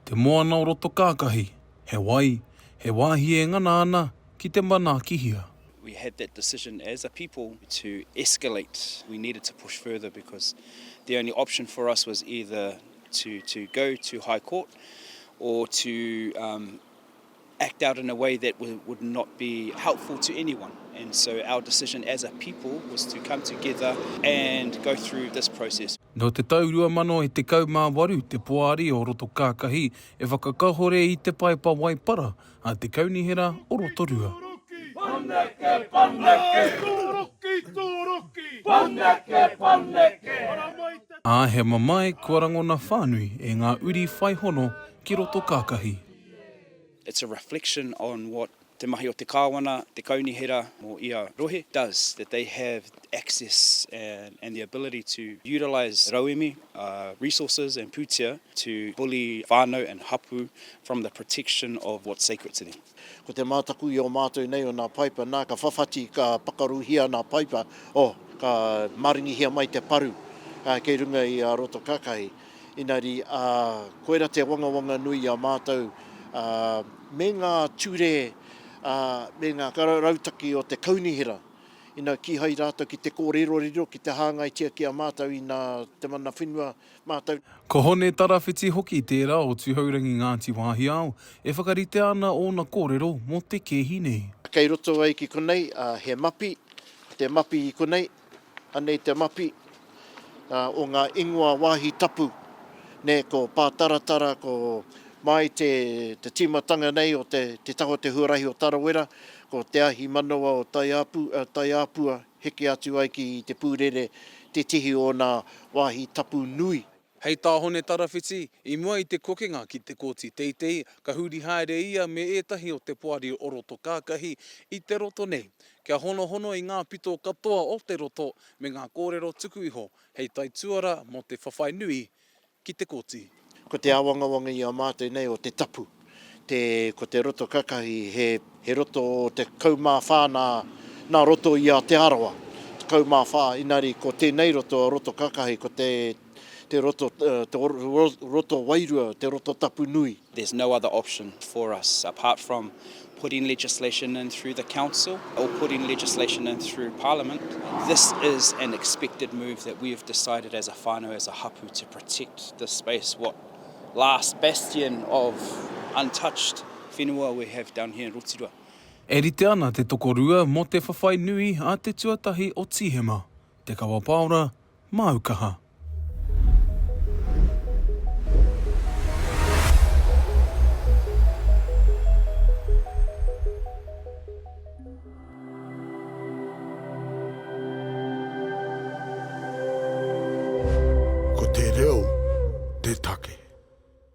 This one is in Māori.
Te Moana o Roto Kākahi, he wai, he wāhi e ngana ana ki te manaakihia. We had that decision as a people to escalate, we needed to push further because the only option for us was either to go to High Court or to act out in a way that would not be helpful to anyone. And so our decision as a people was to come together and go through this process. Nō te tau 2018 te Poari o Rotokākahi e whakakahore i te Paepa Waipara a te Kaunihera o Rotorua. Pāneke, pāneke! Tūruki, tūruki! Pāneke, pāneke! Ā, he mamae kua rangona whānui e ngā uri whai hono ki Rotokākahi. It's a reflection on what te mahi o te Kāwana, te Kaunihera mō ia rohe does, that they have access and the ability to utilise rauemi, resources and pūtea to bully whānau and hapū from the protection of what's sacred to them. Ko te mātaku i o mātou nei o nā paipa, nā, ka whawhati, ka pakaruhia nā paipa, oh, ka maringihia mai te paru kei runga i a roto kakahi. Engari, ā, koirā te wangawanga nui i a mātou, ā, me ngā ture, ā, me ngā rautaki o te kaunihera, ina kīhai rātou ki te kōrero riro, ki te hāngaitia ki a mātou ina te mana whenua mātou. Ko Hone Tarawhiti hoki tērā o Tuhourangi Ngāti Wāhiao e whakaritea ana ōna kōrero mō te kēhi nei. Kei roto ai ki konei, ā, he mapi, te mapi i konei. Anei te mapi o ngā ingoa wāhi tapu, nē, ko Pātaratara, ko mai te tīmatanga nei o te taha o te huarahi o Tarawera, ko Te Ahi Manawa o Taiāpua, heke atu ai ki Te Pūrere, tētehi o ōna wāhi tapu nui. Hei tā Hone Tarawhiti, i mua i te kokenga ki te Kōti Teitei, ka huri haere ia me ētahi o te poari o roto kākahi i te roto nei, kia honohono i ngā pito katoa o te roto me ngā kōrero tuku iho hei taituara mō te whawhai nui ki te kōti. Ko te āwangawanga i a mātou nei o te tapu, Te, ko te roto kakahi, he, he roto 14 nā, nā roto i a Te Arawa, 14, inari ko tēnei roto, roto kakahi, ko te, te roto, te roto wairua, te roto tapu nui. There's no other option for us apart from putting legislation in through the council or putting legislation in through parliament. This is an expected move that we have decided as a whānau, as a hapu, to protect this space, what last bastion of untouched whenua we have down here in Rotirua. E rite ana te tokorua mō te whawhai nui a te tuatahi o Tīhema, Te Kawa Paora, māu kaha. Ko te reo te take.